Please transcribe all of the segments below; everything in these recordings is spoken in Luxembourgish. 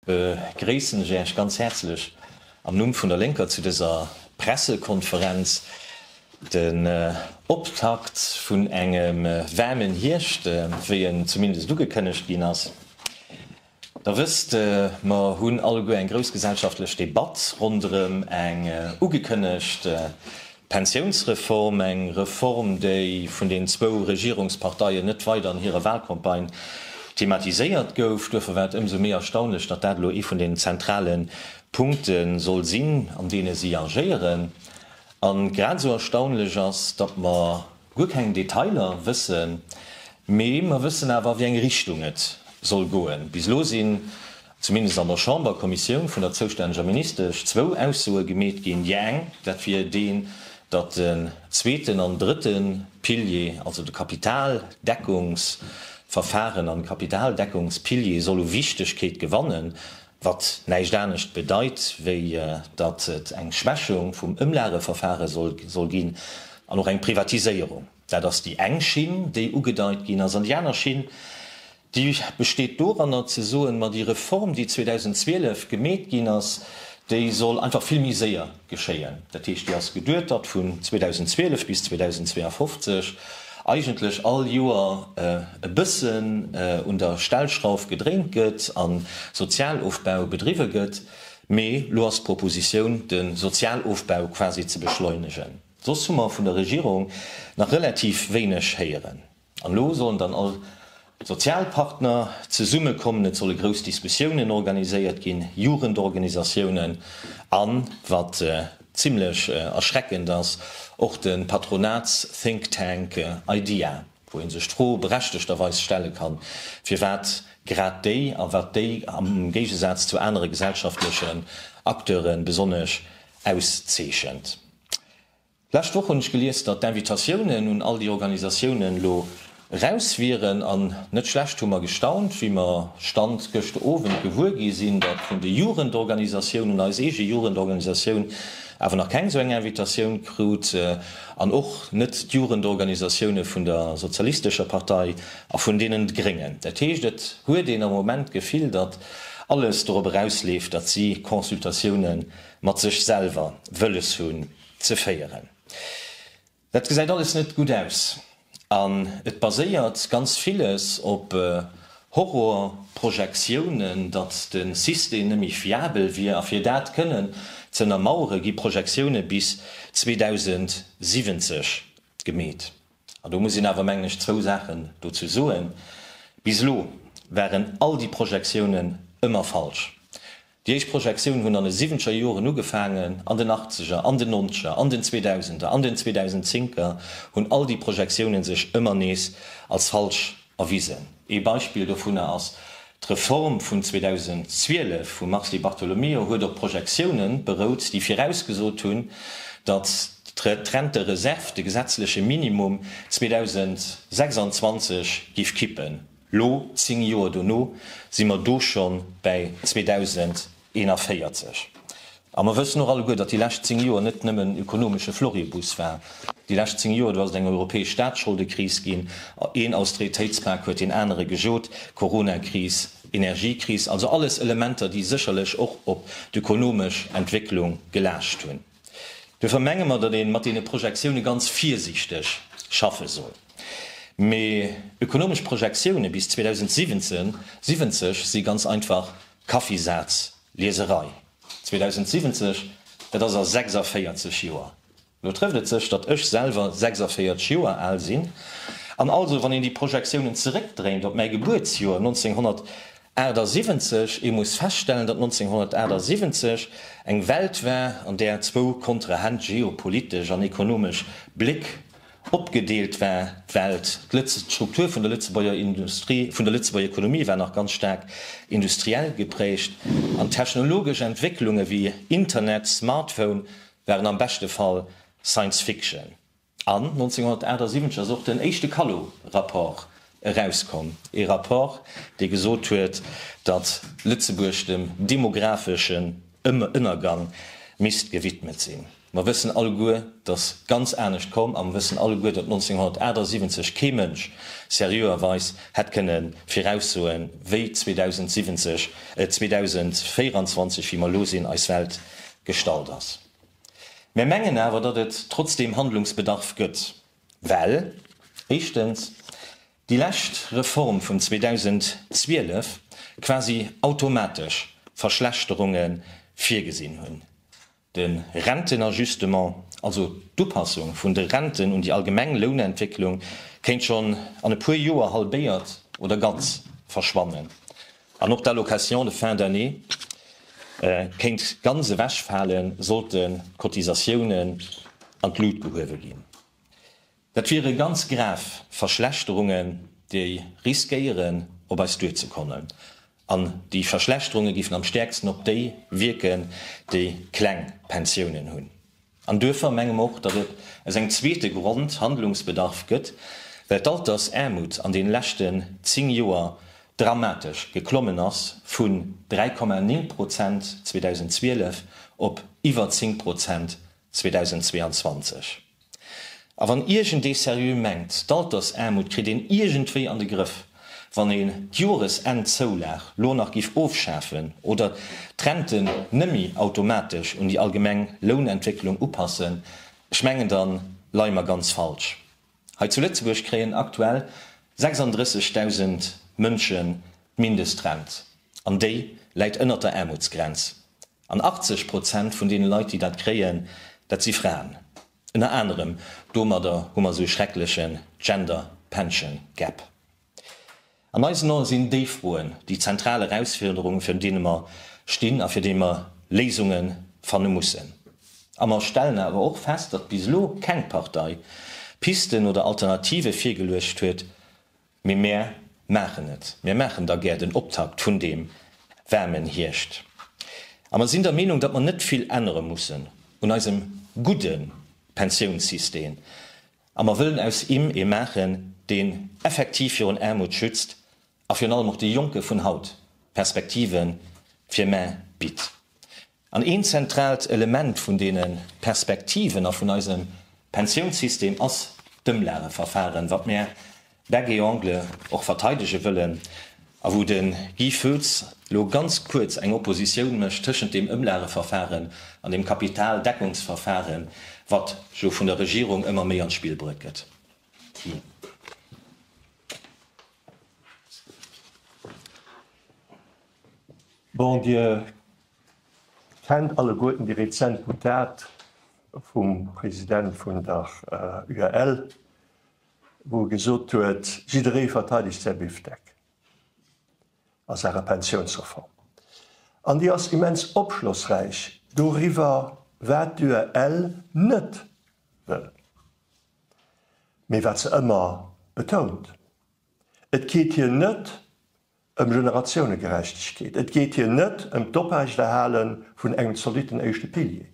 Begréissen ech Äech ganz häerzlech am Numm vun der Lénker zu dëser Pressekonferenz. Den Optakt vun engem waarmen Hierscht, wéi en zumindest ugekënnegt ginn ass. Der wësst, mer hunn alleguer eng grouss gesellschaftlech Debatt ronderëm eng ugekënnegt Pensiounsreform, eng Reform, déi vun den zwou Regierungsparteien net weider an hire Wahlcampagne thematiséiert gouf. Duerfir war et ëmsou méi erstaunlech, datt dat elo ee vun den zentrale Punkte soll sinn, an deene si agéieren. A grad esou erstaunlech ass, datt mer guer keng Detailer wëssen, mee mer wëssen awer, a wéi eng Richtung et soll goen. Bis elo sinn zumindest an der Chamberkommissioun vun der zoustänneger Ministesch, zwou Aussoe gemeet ginn. Déi eng, dat wier deen, datt den zweeten an drëtte Pilier, also de Kapitaldeckungsverfaren an Kapitaldeckungspilier soll u Wichtegkeet gewannen, wat näischt anescht bedeit, wéi datt et eng Schwächung vum Ëmlageverfare soll ginn an och eng Privatiséierung. Dat ass déi eng Schinn, déi ugedeit ginn ass. An déi aner Schinn, déi besteet doranner ze soen, ma déi Reform, déi 2012 gemeet ginn ass, déi soll einfach vill méi séier geschéien. Dat heescht, déi ass geduetert vun 2012 bis 2052, eigentlech all Joer e bëssen un der Stellschrauf gedréint gëtt a Sozialofbau bedriwwe gëtt. Mee elo ass d'Propositioun, de Sozialofbau quasi ze beschleunegen. Soss hu mer vun der Regierung nach relativ wéineg héieren. An elo sollen dann all d'Sozialpartner zesumme kommen, et solle grouss Diskussiounen organiséiert ginn, Jugendorganisatiounen an, wat zimlech erschreckend ass, och de Patronats-Think Tank IDEA, wou ee sech d'Fro berechtegterweis stelle kann, firwat grad déi a wat déi am Géigesaz zu anere gesellschaftlechen Acteure besonnesch auszeechent. D'lescht Woch hunn ech gelies, datt d'Invitatiounen un all déi Organisatiounen elo eraus wieren. An net schlecht hu mer gestaunt, wéi mer, Stand gëscht Owend, gewuer gi sinn, datt vun de Jugendorganisatiounen, un eis eege Jugendorganisatioun, awer nach keng esou eng Invitatioun krut. An och net d'Jugendorganisatioune vun der sozialistescher Partei a vun deenen Gréngen. Dat heescht, et huet een am Moment d'Gefill, datt alles dorop erausleeft, datt si Consultatiounen Mat sech selwer wëlles hunn ze féieren, dat gesäit alles net gutt aus an et baséiert ganz villes op Horrorprojektiounen, datt de System net méi fiabel wier. A fir dat kënnen ze ënnermauere gi Projektioune bis 2070 gemeet. An do muss een awer, mengen ech, zwou Saachen dozou soen, Bis elo waren all déi Projektiounen ëmmer falsch. Déi éischt Projektioun hunn an de siwenzeger Joren ugefaangen, an den achtzeger, an den nonzeger, an den zweedausender, an den zweedausendzénker hunn all déi Projektiounen sech ëmmer nees als falsch erwisen. Ee Beispill dovunner ass d'Reform vun 2012 vum Mars Di Bartolomeo, huet op Projektiounen berout, déi virausgesot hunn, datt d'Rentereserv de gesetzleche Minimum 2026 géif kippen. Lo, zéng Joer dono, si mer do scho bäi 2041. A mer wëssen och alleguer, datt déi lescht zéng Joer net nëmmen en ökonomesche Floribus war. Déi lescht zéng Joer, do ass et eng europäesch Staatsscholdekris ginn, een Austeritéitspak huet deen anere gejot, Coronakris, Energiekris, also alles Elementer, déi sécherlech och op d'ökonomesch Entwécklung gelaascht hunn. Duerfir menge mer, datt ee mat deene Projektioune ganz virsiichteg schaffe soll. Mee ökonomesch Projektioune bis 2070 si ganz einfach Kaffisazlieserei. 2070, dat ass a 46 Joer. Lo trëfft et sech, datt ech selwer 46 Joer al sinn. An also, wann een déi Projektiounen zeréckdréint op mäi Gebuertsjoer 1900, 78, Ee muss feststellen, datt 1978 eng Welt war, an där zwou kontrahent geopolitesch an ekonomesch Bléck opgedeelt war, d'Welt, d'Struktur vun der Lëtzebuerger Industrie, vun der Lëtzebuerger Ekonomie war nach ganz staark industriell geprägt, an d'technologesch Entwécklunge wéi Internet, Smartphone waren am beschte Fall Science Fiction. An 1978 ass och den éischte Callot-Rapport erauskomm, ee Rapport, dee gesot huet, datt Lëtzebuerg dem demographeschen Ënnergang misst gewidmet sinn. Mer wëssen alleguer, datt ganz anescht komm a mer wëssen alleguer, datt 1978 kee Mënsch seriöerweis hätt kënne viraussoen, wéi 2070, äh, 2024, wéi mer elo sinn, eis Welt gestalt ass. Mär mengen awer, datt et trotzdeem Handlungsbedarf gëtt, well éischtens déi lescht Reform vun 2012 quasi automatesch Verschlechterunge virgesinn hunn, de Rentenajustement, also d'Upassung vun de Renten un déi allgemeng Lounentwécklung, kéint schonn an e puer Joer halbéiert oder ganz verschwannen, An och d'Allocation de fin d'année kéint ganz ewechfalen, sollte d'Cotisatiounen an d'Lut gehuewe ginn. Dat wiere ganz grav Verschlechterungen, déi riskéieren op eis duerzekommen. An déi Verschlechterunge géifen am stäerksten op déi wierken, déi kleng Pensiounen hunn. An duerfir menge mer och, datt et eng zweete Grond, Handlungsbedarf gëtt, well d'Altersaarmut an deene leschten zéng Joer dramatesch geklommen ass, vun 3,9 Prozent 2012 op iwwer 10 Prozent 2022. A wann iergendee seriö mengt, d'Altersaarmut kritt een iergendwéi an de Grëff, Wann een d'Joresennzoulag lo nach giff ofschafen oder d'Renten nemmi automatesch un déi allgemeng Lounentwécklung upassen, ech mengen dann leie mer ganz falsch. Hei zu Lëtzebuerg kréien aktuell 36.000 Mënschen d'Mindestrent an déi läit ënnert der Aarmutsgrenz. An 80 Prozent vun deene Leit déi dat kréien, dat si Fraen. Ënner anerem domadder hu mer esou e schreckleche Gender Pension Gap. An eisen Ae sinn déi Froen déi zentral Erausfirderungen, virun deene mer stinn a fir déi mer Léisunge fanne mussen. A mer stellen awer och fest, datt bis elo keng Partei Pisten oder Alternative virgeluecht huet, Mee mär maachen et, mär maachen da gär den Optakt vun deem waarmen Hierscht. A mer sinn der Meenung, datt mer net vill ännere mussen un eisem gudde Pensiounssystem a mer wëllen aus im ee maachen, deen effektiv virun Aarmut schützt a virun allem och de Jonke vun haut Perspektive fir mär bitt. An een zentraalt Element vun deene Perspektiven a vun eisem Pensiounssystem ass d'Ëmlageverfahren, wat mär bec et ongles och verteidege wëllen a wou de Guy Foetz elo ganz kuerz eng Oppositioun mécht tëschent deem Ëmlageverfahren an deem Kapitaldeckungsverfahren, wat elo vun der Regierung ëmmer méi an d'Spill bruet gëtt. Bon, Dir Kennt alleguerten déi rezent Boutad vum President vun der UEL, wou e gesot huet, jidderee verteidegt säi Bifdeck a Saache Pensiounsreform. An déi ass immens opschlossräich doriwwer, wat d'UEL net wëll, mee wat se ëmmer betount, Et geet hir net ëm Generatiounegerechtegkeet, et geet hir net ëm d'Operechtehale vun engem zolitten éischte Pilier.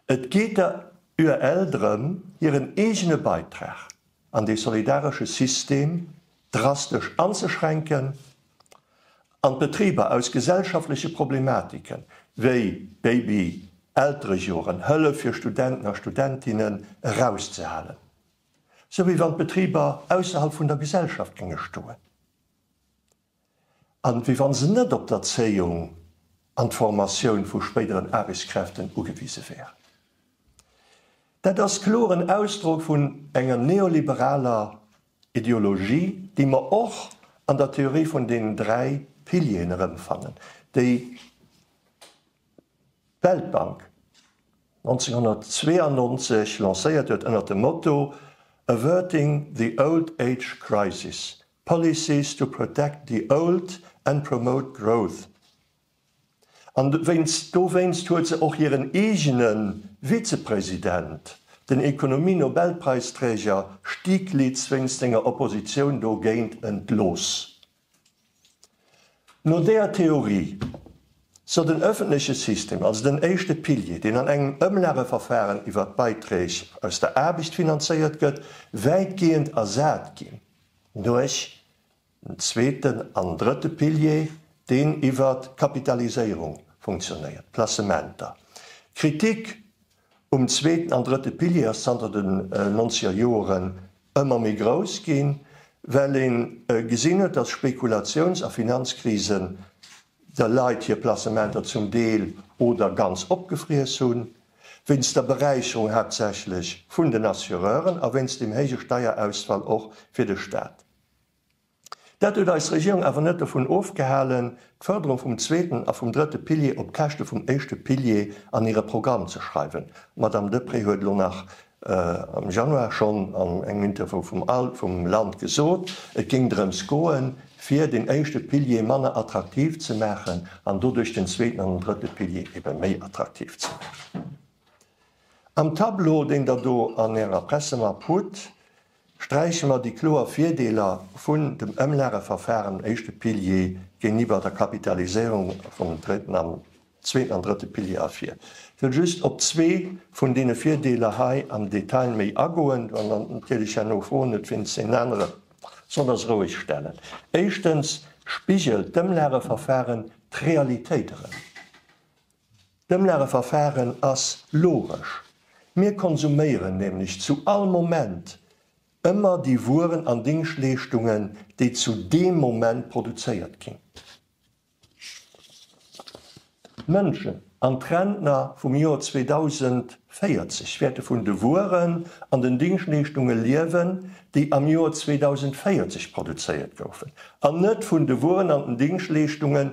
Et geet der UEL drëm, hiren eegene Beitrag an dee solidaresche System drastesch anzeschränken an d'Betriber aus gesellschaftleche Problematiken, wéi Baby-Elterejoren, Hëllef fir Studenten a Studentinnen, erauszehalen. sou wéi wann d'Betriber ausserhalb vun der Gesellschaft géinge stoen a wéi wann se net op d'Erzéiung an d'Formatioun vu spéideren Aarbechtskräften ugewise wären. Dat ass kloren Ausdrock vun enger neoliberaler Ideologie, déi mer och an der Theorie vun den dräi Pilieren erëmfannen, déi Weltbank 1992 lancéiert huet ënner dem Motto Averting the Old Age Crisis, Policies to Protect the Old and Promote Growth. An wéinst dowéinst huet se och hiren eegene Vizepresident, den Ekonomie-Nobelpräisträger Stiglitz wéinst senger Oppositioun dogéint entlooss. No deeër Theorie soll den ëffentleche System, also den éischte Pilier, deen an engem Ëmlageverfahren iwwert d'Beiträg aus der Aarbecht finanzéiert gëtt, wäitgehend ersat ginn duerch den zweeten an drëtte Pilier, deen iwwert d'Kapitaliséierung funktionéiert, d'Placementer. D'Kritik Um zweeten an drëtte Pilier ass zanter den nonzeger Joren ëmmer méi grouss ginn, well een gesinn huet, dass Spekulatiouns a Finanzkrisen de Leit hir Placementer zum Deel oder ganz opgefriess hunn, wéinst der Beräicherung haaptsächlech vun den Assureuren a wéinst dem héije Steierausfall och fir de Staat. Dat huet eis Regierung awer net dovun ofgehalen, d'Fërderung vum zweeten a vum drëtte Pilier op Käschte vum éischte Pilier an hire Programm ze schreiwen. D'Madame Deprez huet elo nach am Januar schonn an engem Interview vum Al vum Land gesot, et géing drëms goen, fir den éischte Pilier manner attraktiv ze maachen an doduerch den zweeten an den drëtte Pilier ebe méi attraktiv ze maachen. Am Tableau, deen Der do an Ärer Pressemapp hutt, Sträiche mer déi kloer Virdeeler vun dem Ëmlageverfahren, éischte Pilier, géintiwwer der Kapitaliséierung vum dritten an zweeten an drëtte Pilier ervir. Ech wëll just op zwee vun deene Virdeeler hei am Detail méi agoen. Wann der natierlech herno Froen hutt, wéinst deenen anere soll der se roueg stellen. Éischtens spigelt d'Ëmlageverfahren d'Realitéit erëm. D'Ëmlageverfahren ass logesch, mir konsuméieren nämlech zu all Moment ëmmer déi Wueren an Dingschleeschtungen, déi zu deem Moment produzéiert ginn. D'Mënschen an d'Rentner vum Joer 2040 wäerte vun de Wueren an den Dingschleeschtunge liewen, déi am Joer 2040 produzéiert goufen, an net vun de Wueren an den Dingschleeschtungen,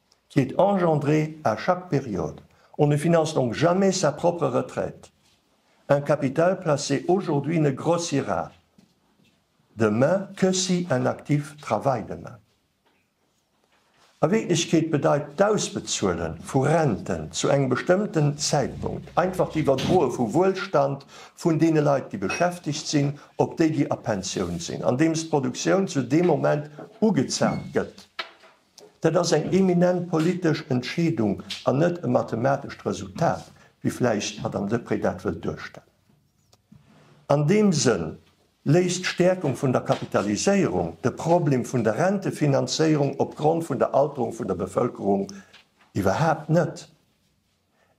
qui est engendré à chaque période, on ne finance donc jamais sa propre retraite, un capital placé aujourd'hui ne grossira demain que si un actif travaille demain. A Wierklechkeet bedeit d'Ausbezuele vu Renten zu engem bestëmmten Zäitpunkt einfach d'Iwwerdroe vu Wuelstand vun deene Leit, déi beschäftegt sinn, op déi, déi a Pensioun sinn, andeems d'Produktioun zu deem Moment ugezaapt gëtt. Dat ass eng eminent politesch Entscheedung an net e mathematescht Resultat, wéi vläicht d'Madame Deprez dat wëllt duerstellen. An deem Sënn léist d'Stäerkung vun der Kapitaliséierung de Problem vun der Rentefinanzéierung opgrond vun der Alterung vun der Bevëlkerung iwwerhaapt net.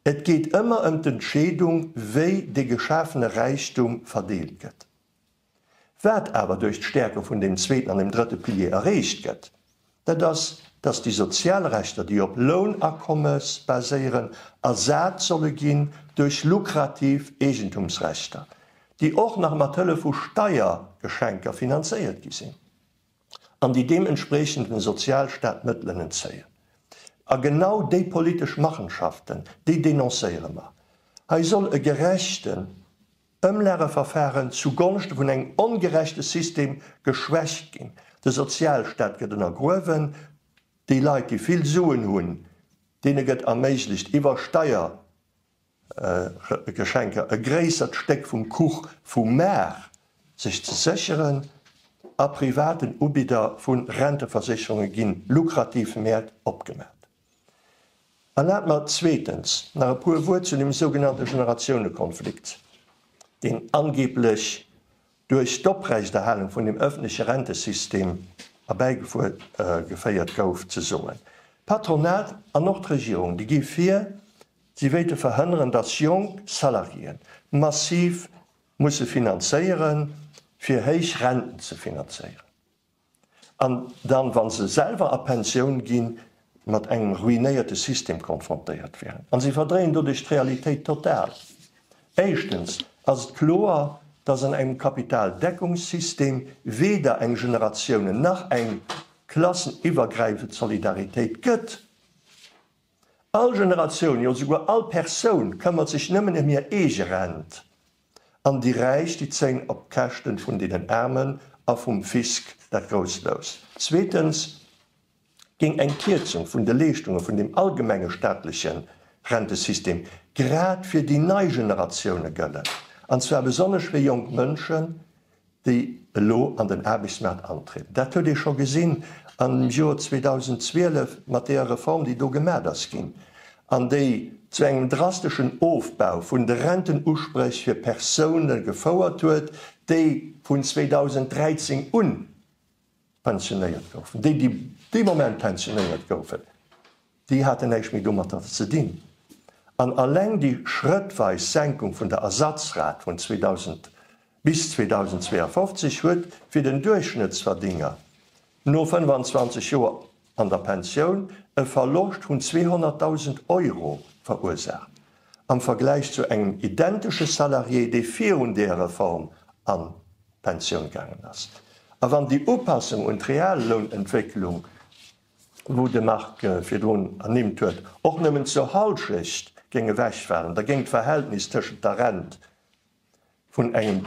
Et geet ëmmer ëm d'Entscheedung, wéi dee geschafene Räichtum verdeelt gëtt. Wat awer duerch d'Stäerke vun deem zweeten an dem drëtte Pilier erreecht gëtt, dat ass, dass déi sozial Rechter, déi op Lounakommes baséieren, ersat solle ginn duerch lukrativ Eegentumsrechter, déi och nach mat Hëllef vu Steiergeschenker finanzéiert gi sinn an déi deementspreechend dem Sozialstaat Mëttelen entzéien. A genau déi politesch Machenschaften, déi denoncéiere mer. Hei soll e gerechten Ëmlageverfahren zu Gonschte vun engem ongerechte System geschwächt ginn, de Sozialstaat gëtt ënnergruewen, déi Leit déi vill Suen hunn, deene gëtt erméiglecht iwwer Steiergeschenker e gréissert Stéck vum Kuch vum Maart sech ze sécheren a privaten Ubidder vu Renteversécherunge ginn lukrativ Mäert opgemaat. Erlaabt mer zweetens nach e puer Wuert zu dem sougenannte Generatiounekonflikt, deen angeblech duerch d'Oprechterhalung vun dem öffentleche Rentesystem erbäigeféiert gouf, ze soen. D'Patronat an och d'Regierung, déi gi vir, si wéilte verhënneren, dass jonk Salariéen massiv musse finanzéieren, fir héich Renten ze finanzéieren. An dann, wa se selwer a Pensioun ginn, mat engem ruinéierte System konfrontéiert wären. A se verdréien doduerch d'Realitéit total. Éischtens ass et kloer, dass an engem Kapitaldeckungssystem weder eng generatiounen nach eng klasseniwwergräifend Solidaritéit gëtt. All Generatioun, jo souguer all Persoun, këmmert sech nëmmen ëm hir eege Rent. an déi Räich déi zéng op Käschten vun deenen Aarmen a vum Fisc dat grousst Lous. Zweetens géing eng Kierzung vun de Leeschtunge vun dem allgemenge staatleche Rentesystem grad fir déi nei Generatioune gëllen, an zwar besonnesch fir jonk Mënschen, déi elo an den Aarbechtsmaart antrieden. Dat huet ee scho gesinn am Joer 2012 mat deeër Reform, déi do gemat ass ginn an déi zu engem drasteschen Ofbau vun de Rentenusprech fir Persoune gefouert huet, déi vun 2013 un, pensionéiert goufen, déi, déi dee Moment pensionéiert goufen, déi haten näischt méi domatter ze dinn. An alleng déi schrëttweis Senkung vun der Ersatzrat vun 2000 bis 2052 huet fir den Duerchschnëttsverdénger no 25 Joer an der Pensioun e Verloscht vun 200.000 Euro verursaacht, am Vergläich zu engem identesche Salarié, dee virun där Reform an d'Pensioun gaangen ass. A wann déi Upassung un d'Reallounentwécklung, wou de Marc virdrun ernimmt huet, och nëmmen zur Hallschecht géing ewechfalen, da géing d'Verhältnis tëschent der Rent, vun engem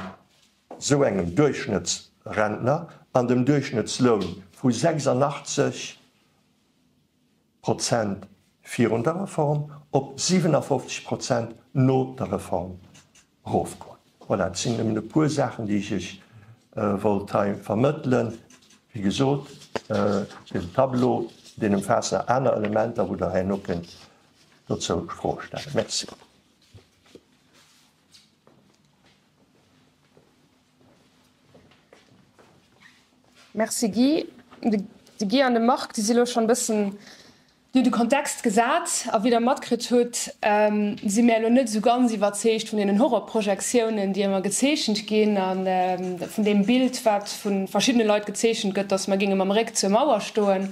esou engem Duerchschnëttsrentner an dem Duerchschnëttsloun vu 86 Prozent virun der Reform op 57 Prozent no der Reform erofgoen. Voilà, et sinn nëmmen e puer Saachen, déi ech Iech wollt hei vermëttelen. Wéi gesot, den Tableau, deen ëmfaasst nach aner Elementer, wou Der herno kënnt dozou Froe stellen. Merci. Merci Guy. De Guy an de Marc, déi si lo schonn e bëssen, déi hunn de Kontext gesat. A wéi Der matkritt hutt, si mir elo net esou ganz iwwerzeegt vun deenen Horrorprojektiounen, déi ëmmer gezeechent ginn, a vun deem Bild, wat vu verschiddene Leit gezeechent gëtt, datt mer géinge mam Réck zur Mauer stoen.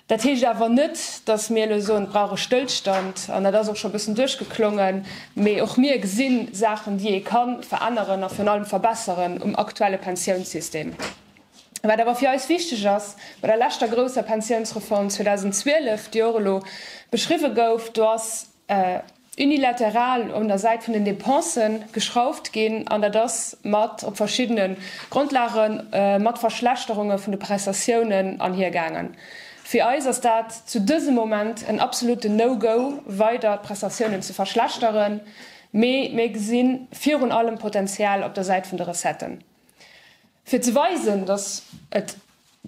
Dat heescht awer net, datt mir elo soen, et brauch e Stëllstand. An dat ass och scho e bëssen duerchgeklongen. Mee och mir gesi Saachen, déi ee ka veränneren a virun allem verbesseren um aktuelle Pensiounssystem. Wat awer fir eis wichteg ass, Bei der leschter grousser Pensiounsreform 2012, déi och elo beschriwwen gouf, do ass, unilateral un der Säit vun den Dépensë geschrauft ginn, an dat ass mat, op verschiddene Grondlage mat Verschlechterunge vun de Prestatiounen anhiergaangen. Fir eis ass dat zu dësem Moment en absolutten No-Go, weider d'Prestatiounen ze verschlechteren, mee mir gesi virun allem Potenzial op der Säit vun de Recetten, fir ze weisen, datt et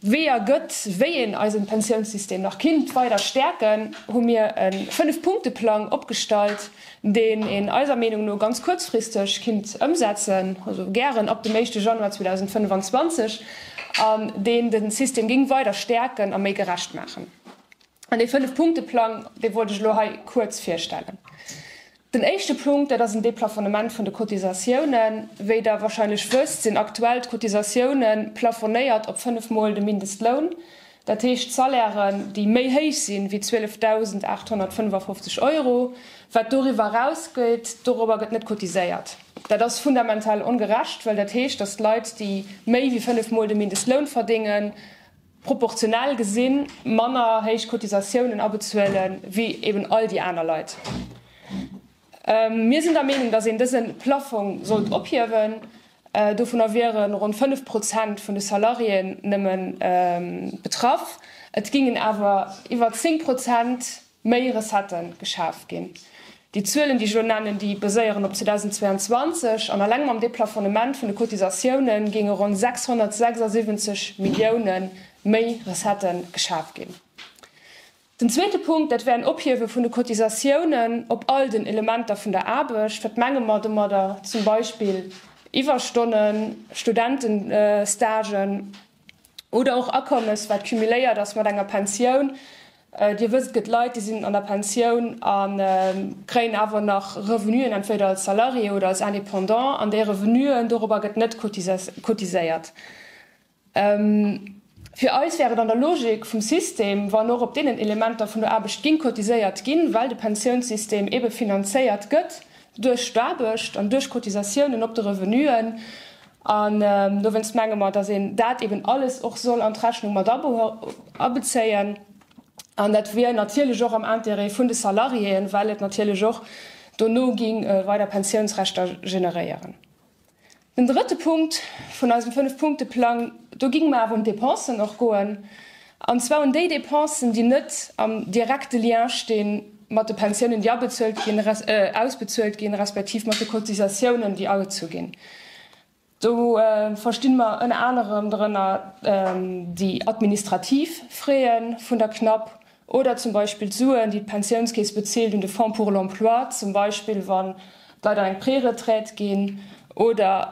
Weeër gëtt, wéi een eisen Pensiounssystem nach kinnt weider stäerken, hu mir en 5 Punkteplang opgestallt, deen een eiser Meenung no ganz kuerzfristeg kinnt ëmsetzen, also gären ab dem éischte Januar 2025, an deen den System géing weider stäerken a méi gerecht maachen. An dee 5 Punkteplang, dee wollt ech elo hei kuerz virstellen. Den éischte Punkt, dat ass en Deplafonnement vun de Cotisatiounen. Wéi Der wahrscheinlech wësst, sinn aktuell d'Cotisatioune plafonéiert op fënnef Mol de Mindestloun. Dat heescht, d'Salairen, déi méi héich sinn wéi 12.855 Euro, wat doriwwer erausgeet, dorobber gëtt net cotiséiert. Dat ass fundamental ongerecht, well dat heescht, datt d'Leit, déi méi wéi fënnef Mol de Mindestloun verdéngen, proportionell gesinn manner héich Cotisatiounen abezuelen, wéi eben all déi aner Leit. Mir sinn der Meenung, datt een dëse Plaffong sollt ophiewen. Dovunner wiere ronn 5 Prozent vun de Salariéen nëmme betraff, et géingen awer iwwer 10 Prozent méi Recettë geschaf ginn. Déi Zuelen, déi ech elo nennen, déi baséieren op 2022, an alleng mam Deplafonnement vun de Cotisatioune géinge ronn 676 Millioune méi Recettë geschaf ginn. Den zweete Punkt, dat wär en Ophiewe vun de Cotisatiounen op all den Elementer vun der Aarbecht. Wat menge mer domadder? Zum Beispill Iwwerstonnen, Studentenstagen. Oder och Akommes, wat cumuléiert ass mat enger Pensioun. Dir wësst, et gëtt Leit, déi sinn an der Pensioun a kréien awer nach Revenuen, entweder als Salarié oder als Indépendant, an déi Revenuen, dorobber gëtt net cotiséiert. Fir eis wär et an der Logik vum System, wann och op deenen Elementer vun der Aarbecht géing cotiséiert ginn, well de Pensiounssystem ebe finanzéiert gëtt duerch d'Aarbecht an duerch Cotisatiounen op de Revenuen. An dowéinst menge mer, dass een dat eben alles och soll an d'Rechnung mat abezéien. An dat wier natierlech och am Intérêt vun de Salariéen, well et natierlech och dono géing weider Pensiounsrechter generéieren. Den drëtte Punkt vun eisem Fënnef-Punkte-Plang, do géinge mer awer un d'Dépensen och goen. An zwar un déi Dépensen, déi net am direkte Lien sti mat de Pensiounen, déi abezuelt ginn, res, äh, ausbezuelt ginn, respektiv mat de Cotisatiounen, déi agezu ginn. Do, äh, versti mer ënner anerem drënner, äh, déi administrativ Frais vun der CNAP oder zum Beispill d'Suen, déi d'Pensiounskeess bezilt un de Fonds pour l'emploi, zum Beispill wann, D'Leit an eng Préretraite ginn oder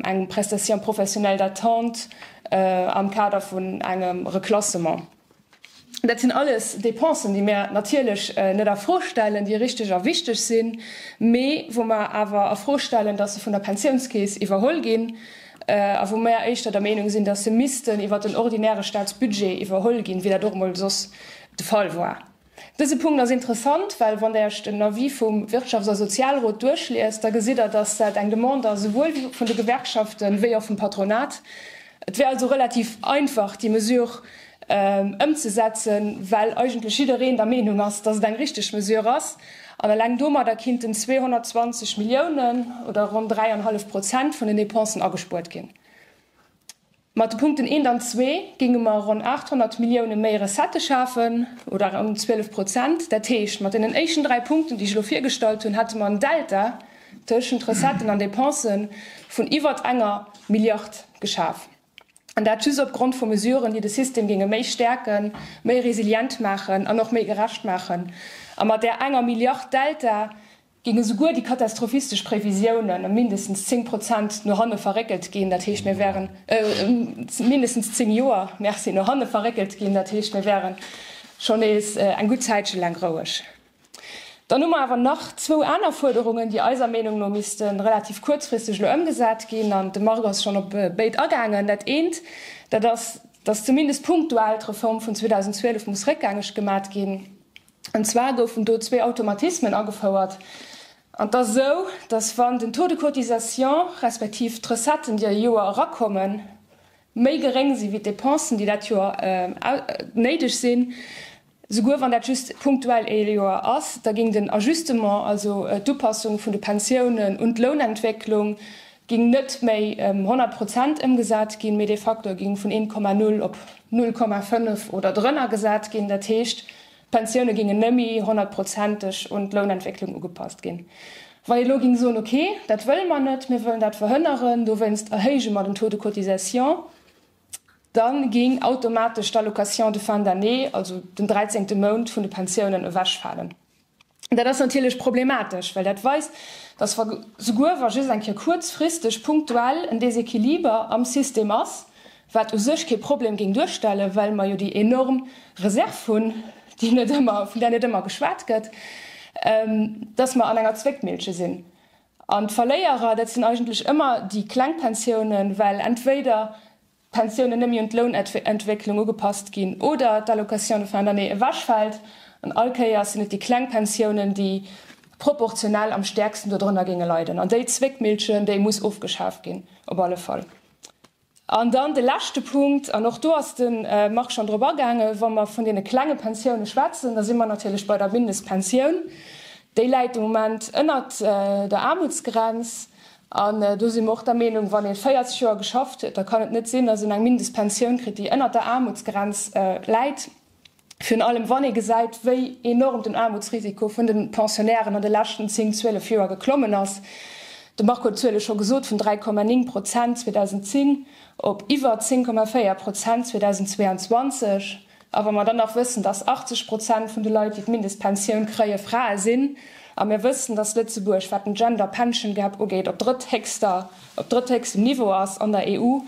eng Prestation professionnelle d'attente am Kader vun engem Reklassement. Dat sinn alles Dépensen, déi mir natierlech net a Fro stellen, déi richteg a wichteg sinn, mee wou mer awer a Fro stellen, dass se vun der Pensiounskeess iwwerholl ginn a wou mer éischter der Meenung sinn, dass se missten iwwert den ordinäre Statsbudget iwwerholl ginn, wéi dat och emol soss de Fall war. Dëse Punkt ass interessant, well wann Der Iech den Avis vum Wirtschafts a Sozialrot duerchliest, da gesitt Der, dass dat eng Demande ass esouwuel vun de Gewerkschaften wéi och vum Patronat. Et wär also relativ einfach, déi Mesure ëmzesetzen, well eigentlech jiddereen der Meenung ass, dass et eng richtig Mesure ass. An eleng domadder kinnten 220 Milliounen oder ronn dräi an e hallef Prozent vun den Dépensen agespuert ginn. Mat de Punkten 1 an 2 géinge mer ronn 800 Millioune méi Recettë schafen, oder ronn 12 Prozent. Dat heescht, mat deenen éischten dräi Punkten, déi ech elo virgestallt hunn, hätte mer en Delta tëschent Recetten an Dépensë vun iwwert enger Milliard geschaf. An dat just opgrond vu Mesuren, déi de System géinge méi stäerken, méi resilient maachen an och méi gerecht maachen. A mat där enger Milliard Delta Géinge souguer déi katastrophistesch Previsiounen ëm mindestens zéng Prozent no hanne verréckelt ginn, dat heescht mir wären, ëm mindestens zéng Joer, merci, no hanne verréckelt ginn, dat heescht mir wären scho nees eng gutt Zäitche laang roueg. Dann hu mer awer nach zwou aner Fuerderungen, déi eiser Meenung no misste relativ kuerzfristeg elo ëmgesat ginn, an de Marc ass schonn op béid agaangen. Dat eent, dat ass, dass zumindest punktuell d'Reform vun 2012 muss réckgängeg gemat ginn. An zwar goufen do zwee Automatismen agefouert. An et ass esou, datt wann den Taux de cotisation respektiv d'Recetten, déi e Joer erakommen, méi geréng si wéi d'Depensen, déi dat Joer néideg sinn, souguer wann dat just punktuell ee Joer ass, da géing den Ajustement, also d'Upassung vun de Pensiounen un d'Lounentwécklung, géing net méi ëm 100 Prozent ëmgesat ginn, mee de Facteur géing vun 1,0 op 0,5 oder drënner gesat ginn. Dat heescht, d'Pensioune géingen nëmme 100 prozenteg un d'Lounentwécklung ugepasst ginn. Wann een elo géing soen, okay, dat wëlle mer net, mir wëllen dat verhënneren, dowéinst erhéije mer den Taux de cotisation, da géing automatesch d'Allocation de fin d'année, also den dräizéngte Mount vun de Pensiounen, ewechfalen. Dat ass natierlech problematesch, well dat weist, datt wa souguer wa just eng Kéier kuerzfristeg punktuell en Déséquiliber am System ass, wat u sech kee Problem géing duerstellen, well mer jo déi enorm Reserv hunn, déi net ëmmer, vun där net ëmmer geschwat gëtt, datt mer an enger Zwéckmillche sinn. An d'Verléierer, dat sinn eigentlech ëmmer déi kleng Pensiounen, well entweder d'Pensioune nëmme un d'Lounentwécklung ugepasst ginn oder d'Allocation de fin d'année ewechfält, an all Kéiers sinn et déi kleng Pensiounen, déi proportionell am stäerksten dodrënner géinge leiden. An déi Zwéckmillchen, déi muss ofgeschaaft ginn, op alle Fall. An dann de leschte Punkt, an och do ass de Marc schonn drop agaangen, wa mer vun deene klenge Pensioune schwätzen, da si mer natierlech bei der Mindestpensioun. Déi läit de Moment ënnert der Aarmutsgrenz. An do si mer och der Meenung, wann ee 40 Joer geschafft huet, da kann et net sinn, dass een eng Mindestpensioun kritt, déi ënnert der Aarmutsgrenz läit, virun allem wann ee gesäit, wéi enorm den Aarmutsrisiko vun de Pensionnairen an de leschten zéng, zwielef Joer geklommen ass. De Marco huet d'Zuele scho gesot, vun 3,9 Prozent 2010 op iwwer 10,4 Prozent 2022. A wa mer dann nach wëssen, dass 80 Prozent vun de Leit, déi d'Mindestpensioun kréie Frae sinn, a mir wëssen, dass Lëtzebuerg, wat den Gender Pension Gap ugeet, op drëtthéchster, op drëtthéchstem Niveau ass an der EU,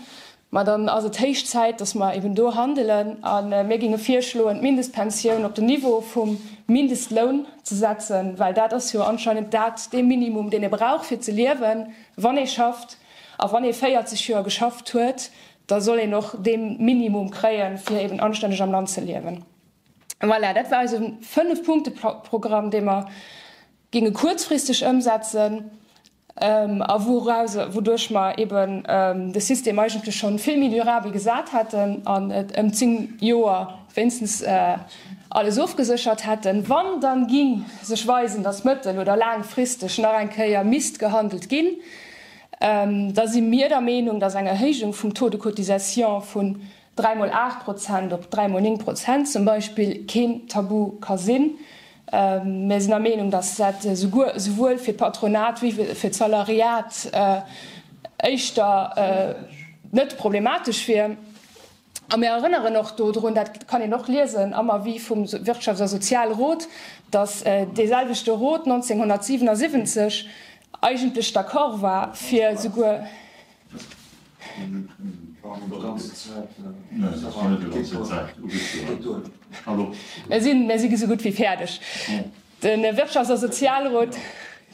ma dann ass et héich Zäit, dass mer eben do handelen. A mir géinge virschloen, d'Mindestpensioun op den Niveau vum Mindestloun ze setzen, well dat ass jo anscheinend dat, dee Minimum, deen ee brauch, fir ze liewen, wann ee schafft. A wann ee 40 Joer geschafft huet, Da soll een och dee Minimum kréien, fir eben anstänneg am Land ze liewen. Voilà, dat war eise Fënnef-Punkte-Programm, dee mer géinge kuerzfristeg ëmsetzen a wouduerch mer eben de System eigentlech scho vill méi durabel gesat hätten an et ëm zéng Joer wéinstens alles ofgeséchert hätten. Wann dann géing sech weisen, dass mëttel oder laangfristeg nach eng Kéier misst gehandelt ginn, da si mir der Meenung, dass eng Erhéijung vum Taux de cotisation vun dräi mol aacht Prozent op dräi mol néng Prozent zum Beispill keen Tabu ka sinn. Mir sinn der Meenung, dass dat esouwuel fir d'Patronat wéi fir d'Salariat éischter net problematesch wier. A mir erënneren och do drun, dat kann een och liesen am Avis vum Wirtschafts a Sozialrot, datt deeselwechte Rot 1977 eigentlech d'accord war, fir esouguer. De Wirtschafts a Sozialrot,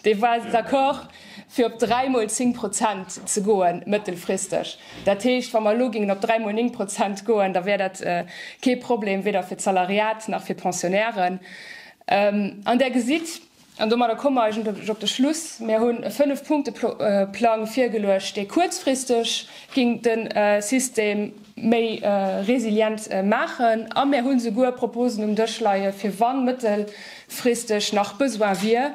dee war d'accord, fir op dräi mol zéng Prozent ze goen mëttelfristeg. Dat heescht, wa mer elo gingen op dräi mol néng Prozent goen, da wär dat kee Problem, weder fir d'Salariat nach fir d'Pensionnairen. An Der gesitt, an domadder komme mer eigentlech op de Schluss, mir hunn e Fënnef-Punkte-Plang virgeluecht, dee kuerzfristeg géing de System, méi resilient maachen a mär hu souguer Proposen um Dësch leie fir wann mëttelfristeg nach Besoin wier.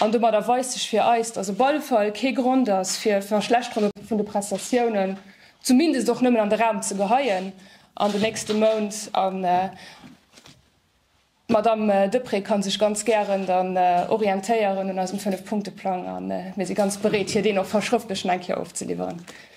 An domadder weist sech fir eis, dass op alle Fall kee Grond ass fir d'Verschlechterung vun de Prestatiounen, zumindest och nëmmen an de Raum ze geheien an de nächste Mount. A d'Madame Deprez ka sech ganz gären dann orientéieren un eisem Fënnef-Punkte-Plang a mir si ganz bereet hir deen och verschrëftlecht nach eng Kéier ofzeliwweren.